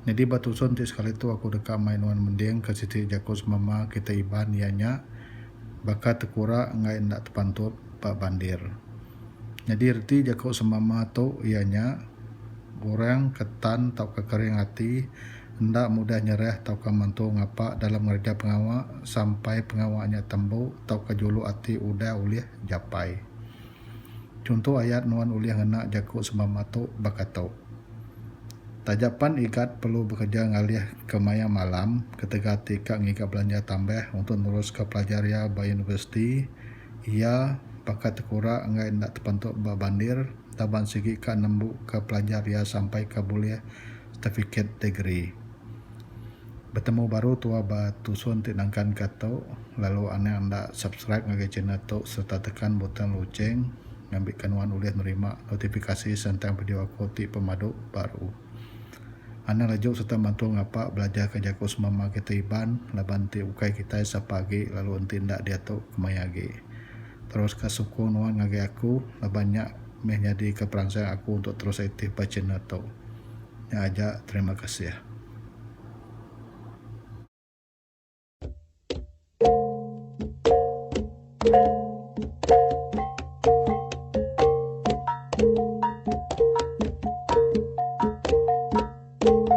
Nyadi ba tusun ti sekali tu aku deka mai nuan mending ke siti jaku semama kitai Iban iya nya baka tekura enggai enda tepantup ba bandir. Nyadi reti jaku semama tu iya nya orang ke tan tauka kering ati enda mudah nyerah tauka mantu ngapa dalam ngereja pengawa sampai pengawa nya tembu tauka juluk ati udah ulih japai. Chunto ayat nuan ulih ngena jaku semama tu baka tu. Taja pan IGAT perlu bekereja ngalih ke maya malam ketegal ti ka ngiga belanja tambah untuk neruska pelajar iya ba universiti, iya baka tekura enggai enda tepentu ba bandir entaban sigi ka nembuka pelajar iya sampai ka bulih setifiket degree. Betemu baru tua ba tusun ti nangkan ka tu lalu anak enda subscribe ngagai channel tu serta tekan butang loceng ngambi ka nuan ulih nerima notifikasi sentang video aku ti pemadu baru. Anang laju serta mantu ngapa belajar ka jaku semama kita Iban laban enti ukai kitai sapa agi lalu enti enda diatu kemaya agi. Terus ka sukung nuan ngagai aku laban nya. meh nyadi ka peransang aku untuk terus aktif ba channel tu. Nya aja terima kasih.